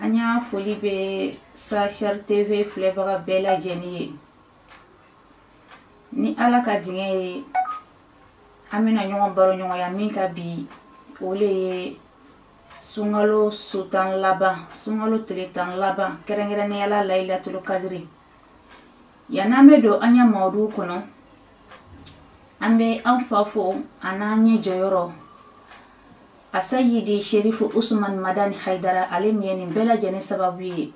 an ya foli bɛ sashar tv filɛbaga bɛɛ lajɛlen ye ni ala ka diɲɛ ye an bɛna ɲɔgɔn baro ɲɔgɔnya min kan bi o le ye sunkalo su tan laban sunkalo tile tan laban kɛrɛnkɛrɛnnenya la layilatulu kadiri yann'an bɛ don an ya mawudu kɔnɔ an bɛ an fa fo an'an ɲɛ jɔyɔrɔ Asayidi sherifu usmani madani haidara ale min ye nin bɛɛ lajɛlen sababu ye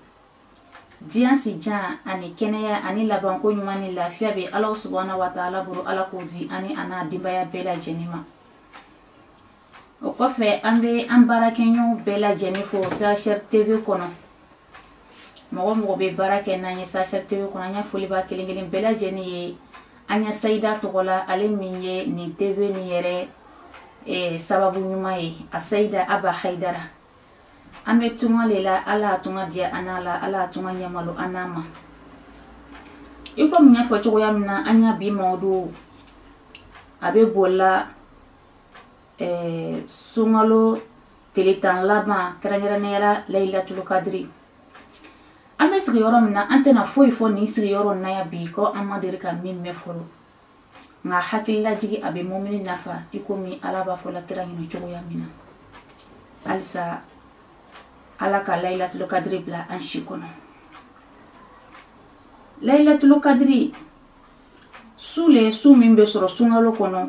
diɲɛ si jan ani kɛnɛya ani labanko ɲuman ni lafiya bɛ ala subahana wa taala bolo ala k'o di ani a n'a denbaya bɛɛ lajɛlen ma o kɔfɛ an bɛ an baarakɛɲɔgɔn bɛɛ lajɛlen fo sashar tv kɔnɔ mɔgɔ mɔgɔ bɛ baara kɛ n'an ye sashar tv kɔnɔ an ya foli b'a kelen kelen bɛɛ lajɛlen ye an ya sayida tɔgɔ la ale min ye nin tv nin yɛrɛ eh, sababu ɲuman ye asayida aba haidara an bɛ tunga le la ala y'a tunga diya an n'a la ala y'a tunga ɲɛmalo an n'a ma i komi n y'a fɔ cogoya min na an ya bi mawudu a bɛ boli la ɛɛ sunkalo tile tan laban kɛrɛnkɛrɛnnenya la layilatulu kadiri an bɛ sigi yɔrɔ min na an tɛna foyi fɔ nin sigi yɔrɔ in na yan bi ko an ma deli ka min mɛn fɔlɔ nka hakililajigi a bɛ mumini nafa i komi ala b'a fɔ la kira ɲɛ na cogoya min na halisa ala ka layilatulu kadiri bila an si kɔnɔ layilatulu kadiri su le su min bɛ sɔrɔ sunkalo kɔnɔ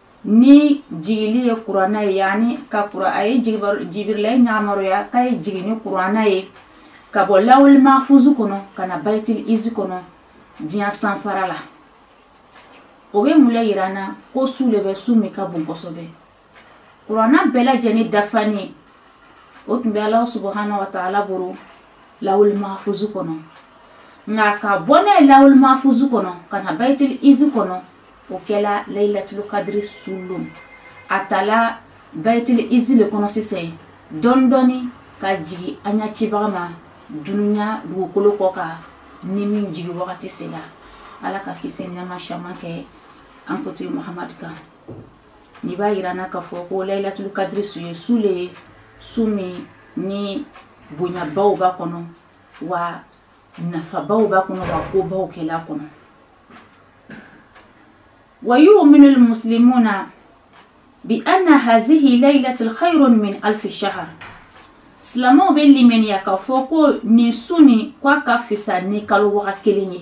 ni jigili ye kuranna ye yani ka kura a ye jibirila ye yamaruya k'a ye jigin ni kuranna ye ka bɔ lawuli mafuzu kɔnɔ ka na bayitil izi kɔnɔ diɲɛ sanfara la o bɛ mun le yira an na ko su le bɛ su min ka bon kosɛbɛ kuranna bɛɛ lajɛlen dafani o tun bɛ ala subahana wa taala bolo lawulimafuzu kɔnɔ nka ka bɔ n'a ye lawulimafuzu kɔnɔ ka na bayitili izi kɔnɔ o kɛla layilatulu kadiri su lon a tala bayitili izi le kɔnɔ sisan dɔɔni dɔɔni ka jigi an ya cibaga ma dunuya dugukolo kɔ kan ni min jigi wagati sera ala ka kisi ni nɛɛma caman kɛ an kotigi mahamadu kan Nin b'a yira an na ka fɔ ko layilatulu kadiri su ye su le ye su min ni bonyabaw b'a kɔnɔ wa nafabaw b'a kɔnɔ wa kobaw kɛl'a kɔnɔ wa yuuminulu muslimuna biana hazihi layilatu hayiru min alifi sahari silamɛw bɛ limaniya ka fɔ ko nin su nin k'a ka fisa ni kalo waga kelen ye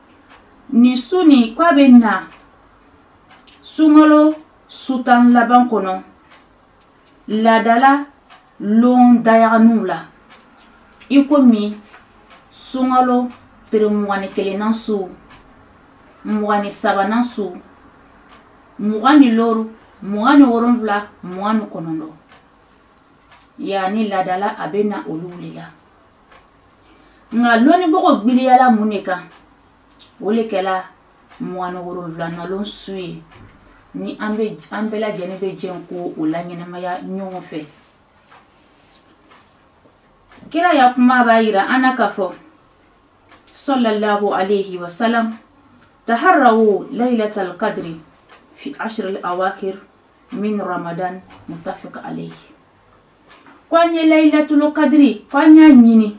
nin su nin k'a bɛ na sunkalo su tan laban kɔnɔ laadala lon dayaganinw la i komi sunkalo tere mugan ni kelennan su mugan ni sabanan su mugan ni loru mugan ni wolonwula mugan ni kɔnɔntɔn yanni laadala a bɛ na olugu le la nka lɔnnibagaw gbiliyala min de kan o de kɛla mugan ni wolonwulanan lon su ye ni an bɛ an bɛɛ lajɛlen bɛ jɛ ka o laɲɛnamaya ɲɔgɔn fɛ kira ya kuma b'a yira an na k'a fɔ sallallahu alayhi wa salam taharrawu laylatal qadri fi ashr al awakhir min ramadan muttafiq alayhi ko an ye layilatulu kadiri ko an y'a ɲini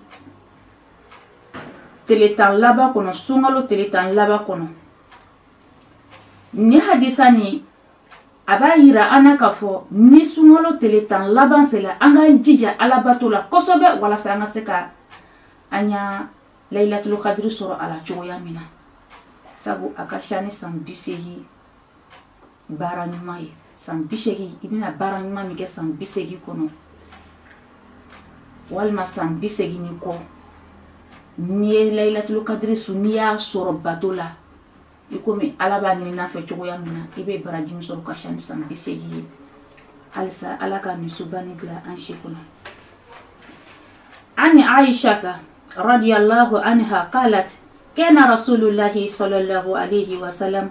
tele tan laban kɔnɔ sunkalo tele tan laban kɔnɔ nin hadisa nin a b'a yira an na k'a fɔ ni sunkalo tele tan laban sela an k'an jija alabato la kosɛbɛ walasa an ka se ka an ya layilatulu kadiri sɔrɔ a la cogoya min na sabu a ka siya ni san bi seegin baara ɲuman ye san bi segin i bɛna baara ɲuman min kɛ san bi segin kɔnɔ walima san bi segin ni kɔ n'i ye layilatulu kadiri su n'i y'a sɔrɔ bato la i komi ala b'a ɲini an fɛ cogoya min na i bɛ baraji min sɔrɔ ka siya ni san bi segin ye halisa ala ka nin suba nin bila an si kɔnɔ an aishata radiyallahu anha qalat kana rasulullahi sallallahu alayhi wa sallam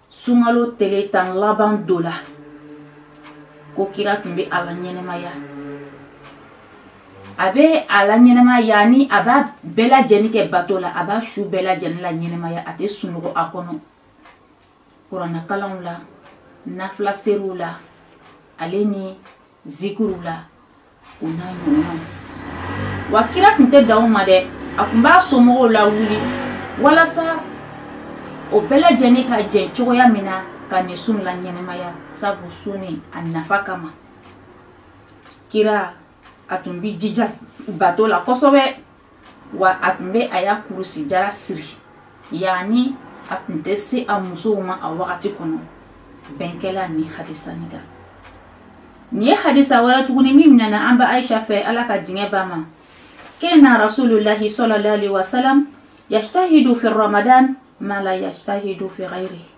sunkalo tele tan laban donna ko kira tun bɛ a laɲɛnamaya a bɛ a laɲɛnamaya yanni a b'a bɛɛ lajɛlen kɛ bato la a b'a su bɛɛ lajɛlen laɲɛnamaya a tɛ sunɔgɔ a kɔnɔ kuranakalanw la nafila seriw la ale ni zikiriw la o n'a ɲɔgɔnnaw wa kira tun tɛ dan o ma dɛ a tun b'a somɔgɔw lawuli walasa o bɛɛ lajɛlen ka jɛ cogoya min na ka nin su laɲɛnamaya sabu su nin a nafa kama kira a tun b'i jija bato la kosɛbɛ wa a tun bɛ a ya kurusi jara siri yanni a tun tɛ se a musow ma a wagati kɔnɔ bɛn kɛla nin hadisa nin kan nin ye hadisa wɛrɛ tuguni min minɛna an ba aisha fɛ ala ka diɲɛ ba ma kana rasulullahi sallallahu alaihi wasallam yajtahidu fi ramadan ma la yajtahidu fi ghairihi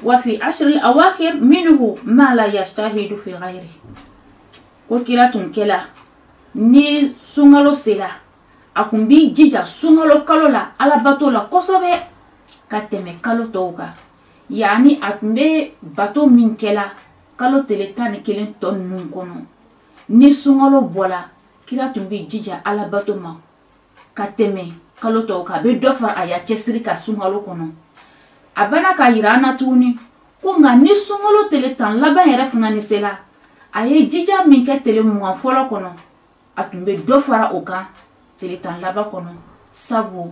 wa fi ashr al-awakhir minhu ma la yajtahidu fi ghairihi ko kira tun kɛla ni sunkalo sela a kun b'i jija sunkalo kalo la alabato la kosɛbɛ ka tɛmɛ kalo tɔw kan yanni a tun bɛ bato min kɛla kalo tele tan ni kelen tɔ ninnu kɔnɔ ni sunkalo bɔla kira tun b'i jija alabato ma ka tɛmɛ kalo tɔw kan a bɛ dɔ fara a ya cɛsiri kan sunkalo kɔnɔ a bɛna k'a yira an na tuguni ko nka ni sunkalo tele tan laban yɛrɛ fana ni sela a ye jija min kɛ tele mugan fɔlɔ kɔnɔ a tun bɛ dɔ fara o kan tele tan laban kɔnɔ sabu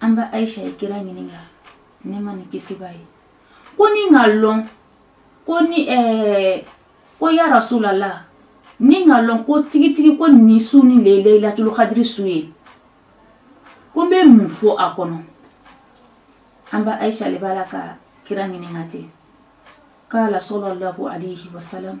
an ba ayisa ye kira ɲininka nɛɛma ni kisi b'a ye ko ni n y'a lɔn ko ni ɛɛ ko ya rasulallah ni n y'a lɔn ko tigitigi ko nin su nin leilatul kadiri su ye ko n bɛ mun fɔ a kɔnɔ an ba ayisa le b'a la ka kira ɲininka ten kala salalahu alayhi wa salam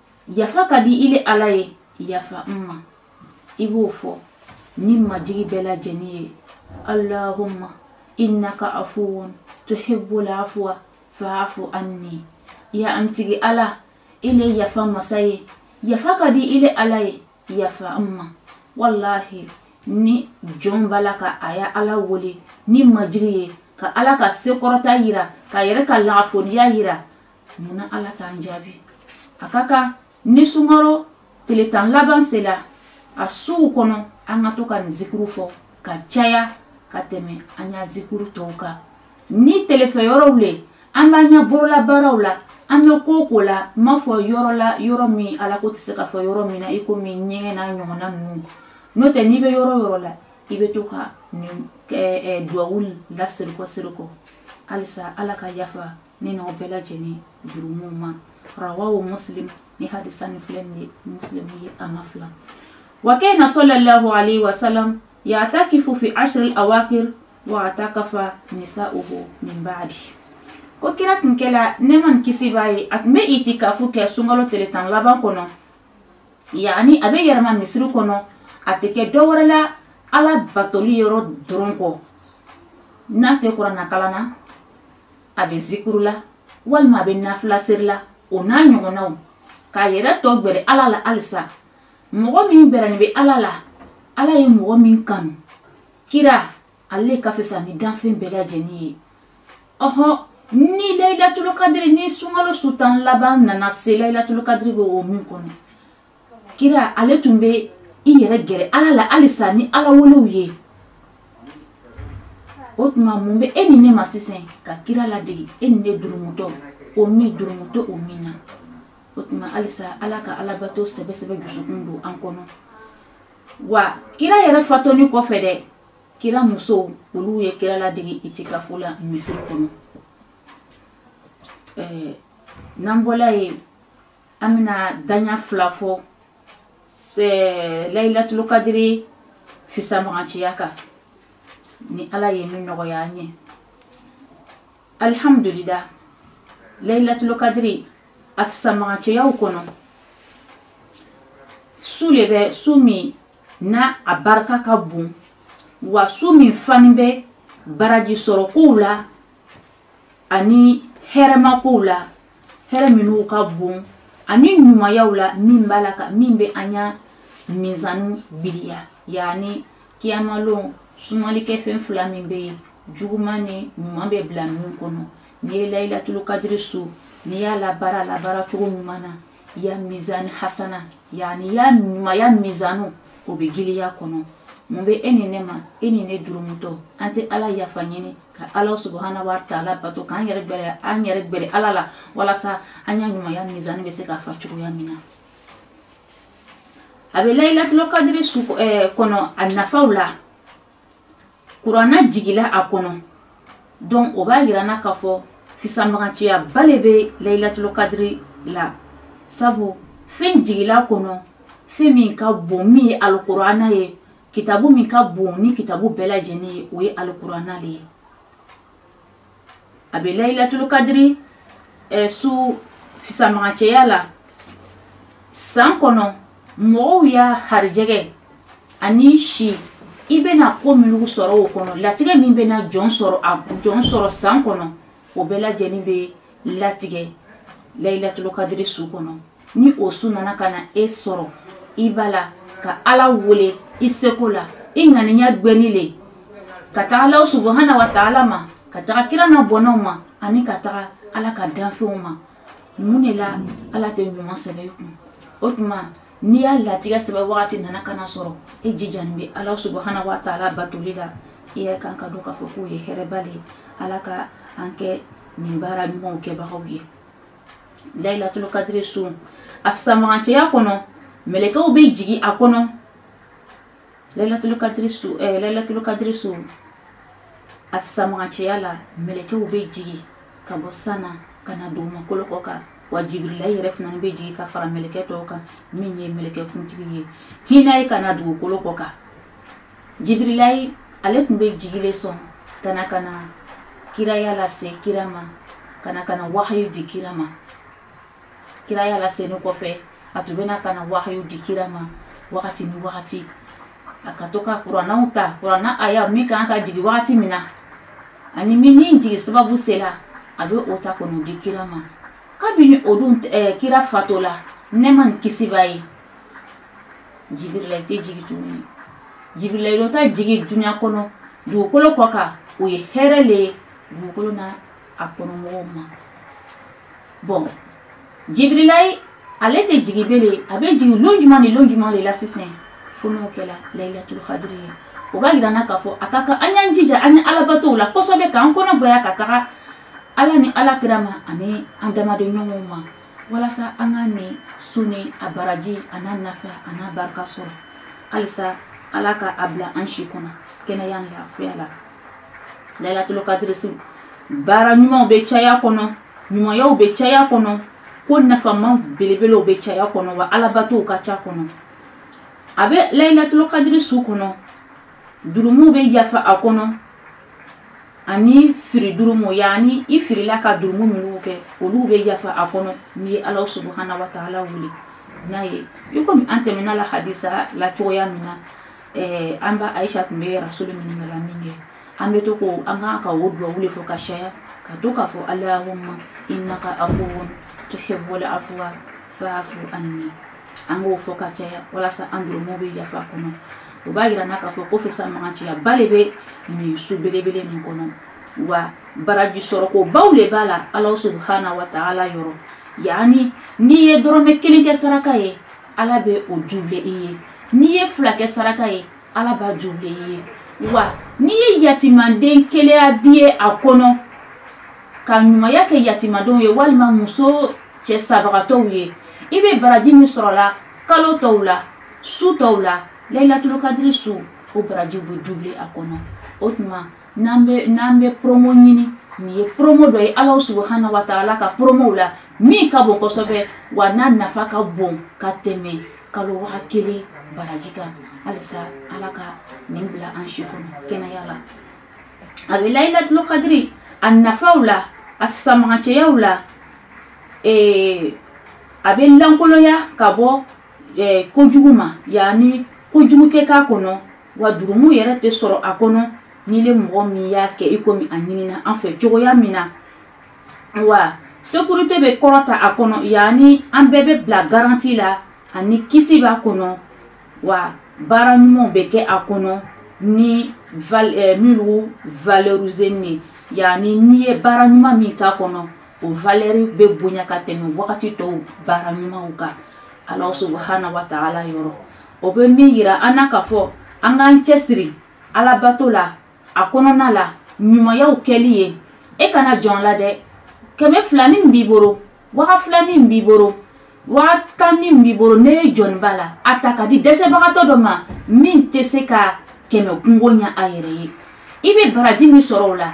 yafa ka di i le ala ye yafa n ma i b'o fɔ ni majigi bɛɛ lajɛlen ye allahumma innaka afuwun tuhibbul afwa fa'fu anni ya an tigi ala i le yafa masa ye yafa ka di i le ala ye yafa n ma walahi ni jɔn b'a la ka a ya ala wele ni majigi ye ka ala ka se kɔrɔta yira k'a yɛrɛ ka lagafoniya yira mun ala k'an jaabi a ka kan ni sunkalo tele tan laban sela a suw kɔnɔ an ka to ka nin zikuru fɔ ka caya ka tɛmɛ an ya zikuru tɔw kan ni telefɛ yɔrɔw le an b'an ya bololabaaraw la an bɛ ko ko la n m'a fɔ yɔrɔ la yɔrɔ min ala ko tɛ se ka fɔ yɔrɔ min na i komi ɲɛgɛn n'a ɲɔgɔnna ninnu n'o tɛ n'i bɛ yɔrɔ yɔrɔ la i bɛ to ka nin duwawu laseginkɔ seginkɔ halisa ala ka yafa ne n'aw bɛɛ lajɛlen jurumu ma rawahu muslim ni hadisa ni filɛ nin ye muslim ye a ma fila wa kana sallallahu alayhi wa sallam ya'takifu fi ashr al-awakhir wa atakafa nisa'uhu min ba'di ko kira tun kɛla nɛɛma ni kisi b'a ye a tun bɛ itikafu kɛ sunkalo tele tan laban kɔnɔ yani a bɛ yɛlɛma misiri kɔnɔ a tɛ kɛ dɔ wɛrɛ la ala batoli yɔrɔ dɔrɔn kɔ n'a tɛ kurana kalan na a bɛ zikuru la walima a bɛ nafilaseri la o n'a ɲɔgɔnnaw k'a yɛrɛ tɔ gbɛrɛ ala la halisa mɔgɔ min gbɛrɛnin bɛ ala la ala ye mɔgɔ min kanu kira ale ka fisa ni danfɛn bɛɛ lajɛlen ye ɔhɔ ni layilatulukadiri ni sunkalo su tan laban nana se layilatulukadiri bɛ o min kɔnɔ kira ale tun bɛ i yɛrɛ gɛrɛ ala la halisa ni ala welew ye o tuma mun bɛ e ni ne ma sisan ka kira ladege e ni ne durumutɔ o min durumutɔ o min na o tuma halisa ala ka alabato sɛbɛsɛbɛ dusukun don an kɔnɔ wa kira yɛrɛ fatuni kɔfɛ dɛ kira musow olu ye kira ladege itikafo la misiri kɔnɔ n'an bɔla ye an bɛna daɲa fila fɔ layilatulu kadiri fisamaganciya kan ni ala ye min nɔgɔya an ye alihamudulila layilatulu kadiri a fisamaganciyaw kɔnɔ su le bɛ su min na a barika ka bon wa su min fani bɛ baraji sɔrɔ kow la ani hɛrɛma kow la hɛrɛ minnu ka bon ani ɲumanyaw la min b'a la ka min bɛ an ya mizanu gbiliya yaani kiyamalon sumalikɛfɛn fila min bɛ yen juguman ni ɲuman bɛ bila min kɔnɔ n'i ye layilatulu kadiri su n'i y'a labaara labaara cogo ɲuman na i ya mizani hasana yaani i ya ɲumanya mizanu o bɛ giliya kɔnɔ mun bɛ e ni ne ma e ni ne durumutɔ an tɛ ala yafa ɲini ka ala subuhana wa taala bato k'an yɛrɛ gbɛrɛ an yɛrɛ gbɛrɛ ala la walasa an ya ɲumanya mizani bɛ se ka fa cogoya min na a bɛ layilatulu kadiri su eh, kɔnɔ a nafaw la kuranna jigila a kɔnɔ donc o b'a yira an na k'a fɔ fisamaganciyaba le bɛ layilatulu kadiri la sabu fɛn jigila a kɔnɔ fɛn min ka bon min ye alikuranna ye kitabu min ka bon ni kitabu bɛɛ lajɛni ye o ye alikuranna le ye a bɛ layilatulu kadiri eh, su fisamaganciya la san kɔnɔ mɔgɔw ya harijɛgɛ ani si i bɛna ko minnu sɔrɔ o kɔnɔ latigɛ min bɛna jɔn sɔrɔ a jɔn sɔrɔ san kɔnɔ o bɛɛ lajɛni bɛ latigɛ layilatulu kadiri su kɔnɔ ni o su nana ka na e sɔrɔ i b'a la ka ala wele i seko la i ŋaniya gwɛni le ka taga ala subuhana wa taala ma ka taga kira n'a bɔnnaw ma ani ka taga ala ka danfɛnw ma mun de la ala tɛ ɲuman sɛbɛ i kun o tuma n'i ya latigɛ sɛbɛ wagati nana ka n'a sɔrɔ e jijani bɛ ala subuhana wa taala batoli la i yɛrɛ kan k'a dɔn k'a fɔ k'o ye hɛrɛba le ye ala ka an kɛ nin baara ɲumanw kɛbagaw ye layilatulu kadiri su a fisamagancɛya kɔnɔ mɛlɛkɛw bɛ jigin a kɔnɔ layilatulu kadiri su ɛɛ eh, layilatulu kadiri su a fisamagancɛya la mɛlɛkɛw bɛ jigin ka bɔ san na ka na dugumakolo kɔ kan wa jibirilayi yɛrɛ fana bɛ jigin ka fara mɛlɛkɛ tɔw kan min ye mɛlɛkɛ kuntigi ye hinɛ ye ka na dugukolo kɔ kan jibirilayi ale tun bɛ jigi le sɔn ka na ka na kiraya lase kira ma ka na ka na wahayu di kira ma kiraya lasenin kɔfɛ a tun bɛna ka na wahayu di kira ma wagati ni wagati a ka to ka kuranaw ta kurana aya min kan ka jigin wagati min na ani min ni jigin sababu sera a bɛ o ta ka n'o di kira ma kabini o dun eh, kira fatola nɛma ni kisi b'a ye jibirilayi tɛ jigi tuguni jibirilayi ta jigi dunya kɔnɔ dugukolo kɔ kan o ye hɛrɛ le ye dugukolo na a kɔnɔmɔgɔw ma bon jibirilayi ale tɛ jigi belen a bɛ jigi lon jumɛn ni lon jumɛn le la sisan fo n'o kɛla layilatul kadiri ye o b'a yira n na k'a fɔ a ka kan an y'an jija an ye alabatow la kosɛbɛ k'an kɔnɔ gwɛya ka taga ala ni ala kira ma ani an damadenɲɔgɔnw ma walasa an ka nin su ni a baraji a n'a nafa a n'a barika sɔrɔ halisa ala ka a bila an si kɔnɔ kɛnɛya ni lafiya la layilatulu kadiri su baara ɲumanw bɛ caya a kɔnɔ ɲumanyaw bɛ caya a kɔnɔ ko nafama belebelew bɛ caya a kɔnɔ wa alabatow ka ca a kɔnɔ a bɛ layilatulu kadiri su kɔnɔ jurumuw bɛ yafa a kɔnɔ ani firi jurumu yaani i firila ka jurumu minnu kɛ olu bɛ yafa a kɔnɔ n'i ye ala subahana wa taala wele n'a ye i komi an tɛmɛna a la hadisa la cogoya min na eh, an ba ayisa tun bɛ rasulu ɲininka la minkɛ an bɛ to ko an kan ka o duwawu le fɔ ka caya ka to k'a fɔ alahuma innaka afuwun tuhibbul afwa fa'fu anni an k'o fɔ ka caya walasa an jurumuw bɛ yafa a kɔnɔ o b'a yira n na k'a fɔ ko fisamaganciyaba le bɛ nin su belebele nin kɔnɔ wa baraji sɔrɔko baw le b'a la ala subahana wa taala yɔrɔ yaani n'i ye dɔrɔmɛ kelen kɛ saraka ye ala bɛ o dubule i ye n'i ye fila kɛ saraka ye ala b'a dubule i ye wa n'i ye yatimaden kelen abiye a kɔnɔ ka ɲumanya kɛ yatimadenw ye walima muso cɛ sabagatɔw ye i bɛ baraji min sɔrɔla kalo tɔw la su tɔw la layilatulu kadiri su o baraji bɛ dubule a kɔnɔ o tuma n'an bɛ n'an bɛ promo ɲini nin ye promo dɔ ye ala subahana wa taala ka promow la min ka bon kosɛbɛ a n'a nafa ka bon ka tɛmɛ kalo waga kelen baraji kan halisa ala ka nin bila an si kɔnɔ kɛnɛya la a bɛ layilatulu kadiri a nafaw la a fisamagancɛyaw la ee, a bɛ lankoloya ka bɔ ee, kojugu ma yanni kojugu tɛ k'a kɔnɔ wa jurumu yɛrɛ tɛ sɔrɔ a kɔnɔ n'i le mɔgɔ min y'a kɛ i komi a ɲinina an fɛ cogoya min na wa sekurite bɛ kɔrɔta a kɔnɔ yanni an bɛɛ bɛ bila garanti la ani kisi b'a kɔnɔ wa baara ɲumanw bɛ kɛ a kɔnɔ ni eh, minnu valɛrizen ye yanni n'i ye baara ɲuman min k'a kɔnɔ o valɛri bɛ bonya ka tɛmɛ wagati tɔw baara ɲumanw kan ala subahana wa taala yɔrɔ o bɛ min yira an na ka fɔ an k'an cɛsiri alabato la a kɔnɔna la ɲumanyaw kɛli ye e kana jɔn a la dɛ kɛmɛ fila ni min b'i bolo waga fila ni min b'i bolo waga tan ni min b'i bolo n'e jɔnnen b'a la a ta k'a di dɛsɛbagatɔ dɔ ma min tɛ se ka kɛmɛ kunko ɲɛ a yɛrɛ ye i bɛ baraji min sɔrɔ o la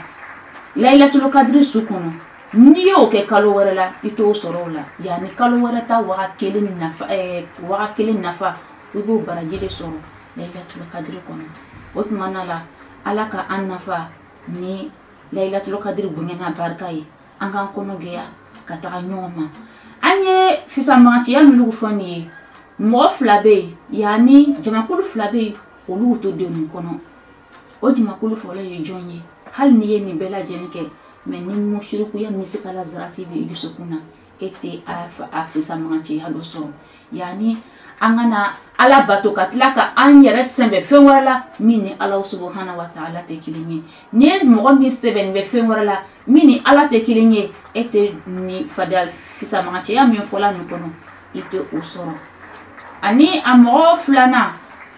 layilatulu kadiri su kɔnɔ n'i y'o kɛ kalo wɛrɛ la i t'o sɔrɔ o la yanni kalo wɛrɛ ta waga kelen nafa waga kelen nafa i b'o baraji de sɔrɔ layilatulu kadiri kɔnɔ o tuma na la ala ka an nafa ni layilatulu kadiri bonya n'a barika ye an k'an kɔnɔ gɛya ka taga ɲɔgɔn ma an ye fisamagancɛya minnu fɔ nin ye mɔgɔ fila bɛ yen yanni jamakulu fila bɛ yen olu t'o denw kɔnɔ o jamakulu fɔlɔ ye jɔn ye hali n'i ye nin bɛɛ lajɛlen kɛ mɛ ni musirikuya misikala zarati bɛ i dusukun na e tɛ a fisamancɛya dɔ sɔrɔ yanni an kana ala bato ka tila ka an yɛrɛ sɛmɛ fɛn wɛrɛ la min ni ala subahana wa taala tɛ kelen ye n'i ye mɔgɔ min sɛmɛnen bɛ fɛn wɛrɛ la min ni ala tɛ kelen ye e tɛ nin fadila fisamagancɛya min fɔla nin kɔnɔ i tɛ o sɔrɔ ani a mɔgɔ filanan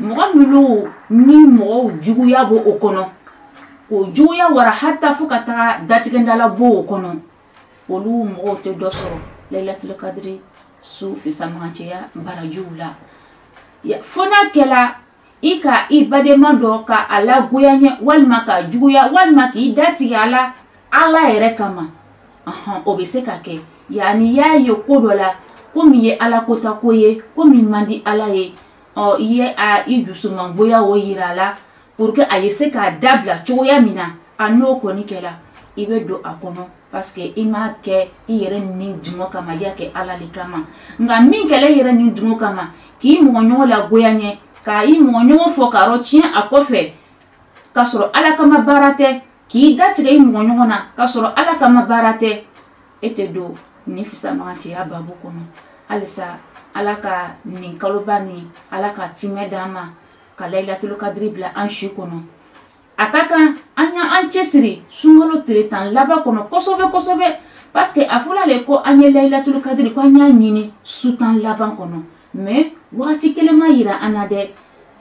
mɔgɔ minnu ni mɔgɔw juguya b'o o kɔnɔ k'o juguya wara hata fo ka taga datigɛndala b'o o kɔnɔ olu mɔgɔw tɛ dɔ sɔrɔ layilatulu kadiri su fisamagancɛya barajiw la fo n'a kɛla i ka i badenma dɔ ka a lagoyaɲɛ walima k'a juguya walima k'i datigɛ a la ala yɛrɛ kama ɔhɔn o bɛ se ka kɛ yanni y'a ye ko dɔ la ko min ye ala kota ko ye ko min man di ala ye ɔ i ye i dusumangoya o yira a la pour que a ye se k'a dabila cogoya min na a n'o kɔni kɛra i bɛ don a kɔnɔ parce que i m'a kɛ i yɛrɛ ni dungɔ kama i y'a kɛ ala le kama nka min kɛla i yɛrɛ ni dungɔ kama k'i mɔgɔɲɔgɔn lagoya ɲɛ ka i mɔgɔɲɔgɔn fɔ ka yɔrɔ tiɲɛ a kɔfɛ k'a sɔrɔ ala kama baara tɛ k'i datigɛ i mɔgɔɲɔgɔn na k'a sɔrɔ ala kama baara tɛ e tɛ don nin fisamantiya babu kɔnɔ halisa ala ka nin kaloba nin ala ka timɛ d'an ma ka layilatulu kadiri bila an si kɔnɔ a ka kan an y' an cɛsiri sunkalo tile tan laban kɔnɔ kosɛbɛ kosɛbɛ parce que a fɔla le ko an ye layilatulu kadiri ko an y'a ɲini su tan laban kɔnɔ mais wagati kelen ma yira an na dɛ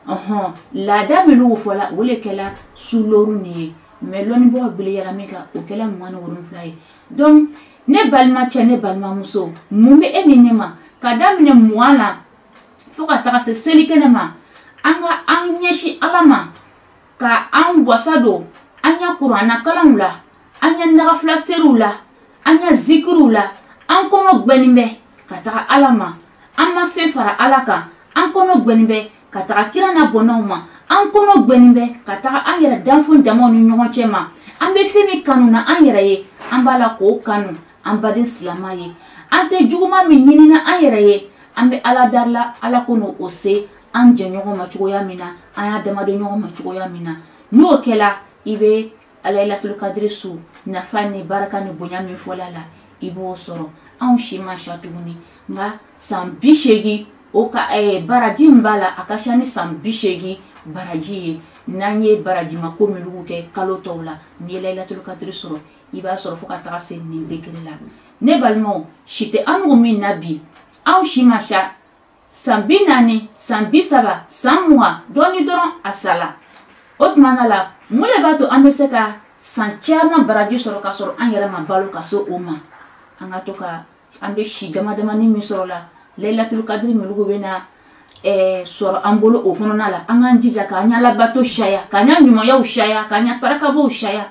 ɔhɔn laada minnu fɔla o le kɛla su loru nin ye mais lɔnnibagaw gbɛlɛyara min kan o kɛla mugan ni wolonfila ye donc ne balima cɛ ne balimamuso mun bɛ e ni ne ma ka daminɛ mugan na fo ka taga se seli kɛnɛ ma an ka an ɲɛsin ala ma ka an wasa don an ya kuranna kalanw la an ya nagafila seriw la an ya zikiriw la an kɔnɔ gwɛnin bɛ ka taga ala ma an ma fɛn fara ala kan an kɔnɔ gwɛnin bɛ ka taga kira na bɔnnaw ma an kɔnɔ gwɛnin bɛ ka taga an yɛrɛ danfɛn damaw ni ɲɔgɔn cɛ ma an bɛ fɛn min kanu na an yɛrɛ ye an b'a la k'o kanu an baden silama ye an tɛ juguma min ɲinina an yɛrɛ ye an bɛ ala darila ala ko n'o o se an jɛ ɲɔgɔn ma cogoya min na an y'a damadon ɲɔgɔn ma cogoya min na n'o kɛra i bɛ layilatulu kadiri su nafa ni barika ni bonya min fɔla la i b'o sɔrɔ anw si man ca tuguni nka san bi seegin o ka eh, baraji min b'a la a ka ca ni san bi seegin baraji ye n'an ye barajima ko minnu kɛ kalo tɔw la n'i ye layilatulu kadiri sɔrɔ i b'a sɔrɔ fo ka taga se nin degré la ne balimaw si tɛ an nugu min na bi anw si man ca san bi naani san bi saba san mugan dɔɔni dɔrɔn a sala o tuma na la mun de b'a to an bɛ se ka san caman baraji sɔrɔ ka sɔrɔ an yɛrɛ ma balo ka se o ma an ka to ka an bɛ si dama damani min sɔrɔ la layilatulu kadiri minugu bɛ na Eh, sɔrɔ an bolo o kɔnɔna la an k'an jija k'an ɲa alabato caya k'an ɲa ɲumanyaw caya k'an ɲa sarakabɔw caya